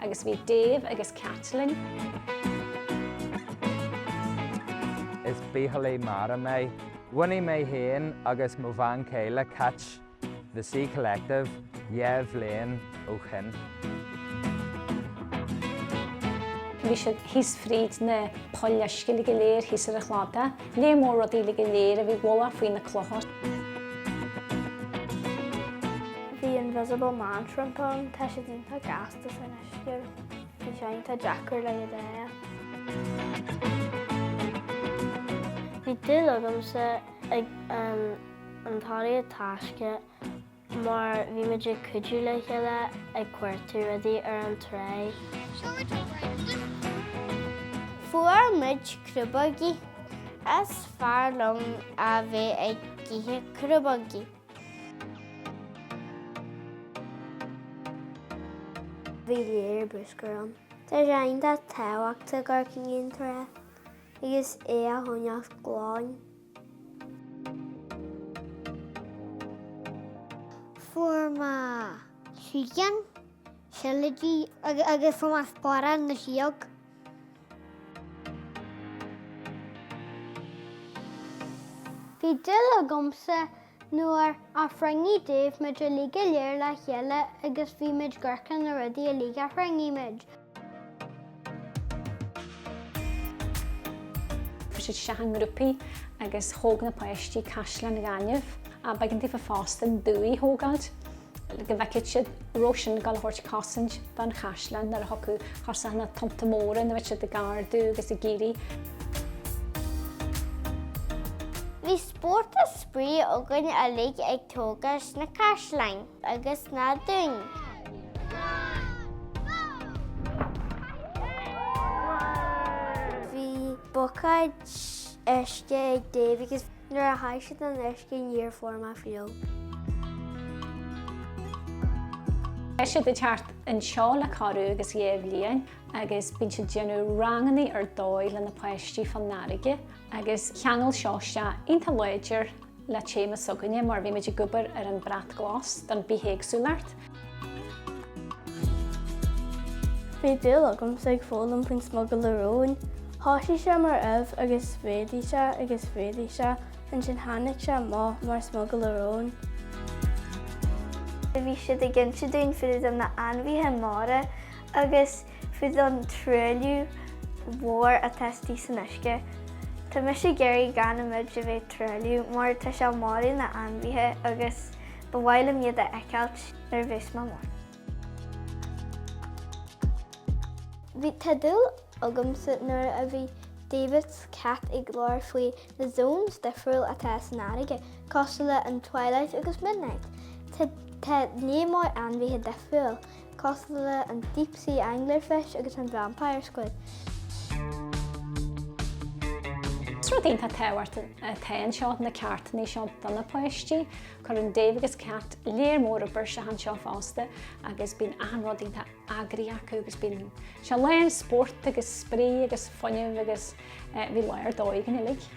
Agus bhí Dave agus Caitlin. Is bitheolaí mara mé. Bhunaigh mé féin agus mo bhean chéile Cait The Sea Collective dhá bhliain ó shin. Bhí siad thíos fríd na poill uisce uilig go léir thíos ar an chladach. Lear mór rudaí uilig go léir a bhí i bhfolach faoi na clocha. Bhí Invisible Man Shrimp ann, tá siad iontach gasta san uisce. Bhí sé iontach deacair le iad a fháil. Bhí dúil agamsa ag an tóraíocht taisce. mar bhí muid ag cuidiú le chéile ag cuartú rudaí ar an trá. Fuair muid crúbógaí. Is fearr liom a bheith ag ithe crúbógaí. Bhí lear bruscar ann. Tá sé iontach tábhachtach dul chuig an trá agus é a choinneáil glan. Fuair mé síghean, seilidí agus fuair mé sparán na sióg. Bhí dúil agamsa Nuair a chruinnigh Dave muid uilig go léir le chéile agus bhí muid ag amharc ar na rudaí uilig a chruinnigh muid. Chuaigh siad isteach i ngrúpaí agus thóg na páistí caisleán na gainimh. B'éigean daofa fosta an dumhaigh a thógáilt le go bhfeicfeadh siad an raibh sin ag dul a thabhairt cosaint don chaisleán nuair a thiocfadh chucu na tonnta móra nó bheadh siad ag ardú agus ag éirí Spórt is spraoi againn uilig ag tógáilt na caisleáin agus na dúin. Bhí bucáid uisce ag Dave agus nuair a chaith siad an uisce níor fuair mé fliuch. Tá siad ag teacht anseo le corradh agus dhá bhliain agus bíonn siad ag déanamh ranganna ar dóigh le na páistí fán fharraige. agus cheangail seo isteach iontach láidir le téama s'againne mar bhí muid ag obair ar an Brat Glas don Bithéagsúlacht. Bhí dúil agamsa ag foghlaim faoin smugairle róin. Thosaigh sé mar ubh agus mhéadaigh sé agus mhéadaigh sé ansin tháinig sé amach mar smugairle róin. Bhí siad ag inse dúinn fá dtaobh de na ainmhithe mara agus faoin truailliú mhór atá istigh san uisce. Tá mise ag iarraidh gan muid a bheith ag truailliú mar tá sé ag marú na hainmhithe agus ba mhaith liom iad a fheiceáilt nuair a bheas mé mór. Bhí an-dúil agamsa nuair a bhí David is Cat ag labhair faoi na zones difriúil atá san fharraige, cosúil le an twilight agus midnight. Tá níos mó ainmhithe difriúil Cosúil le an Deep Sea Angler Fish agus an Vampire Squid. Is rud iontach tábhachtach atá anseo, na ceardlanna seo do na páistí. Cuireann Dave agus Cat lear mór oibre isteach anseo fosta agus bíonn achan rud iontach eagraithe acu agus bíonn sé lán spóirt agus spraoi agus fuinnimh agus bhí lá ar dóigh againn uilig.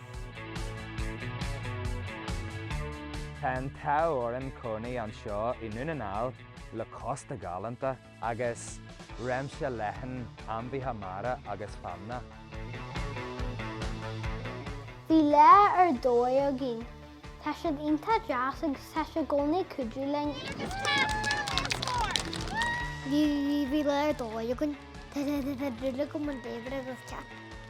Tá an t-ádh orainn cónaí anseo i nDún na nGall. le cósta galánta agus réimse leathan ainmhithe mara agus feamainne. Bhí lá ar dóigh againn. Tá siad iontach deas agus tá sé i gcónaí ag cuidiú linn. Bhí lá ar dóigh againn. Táimid buíoch go mór de David agus Cat.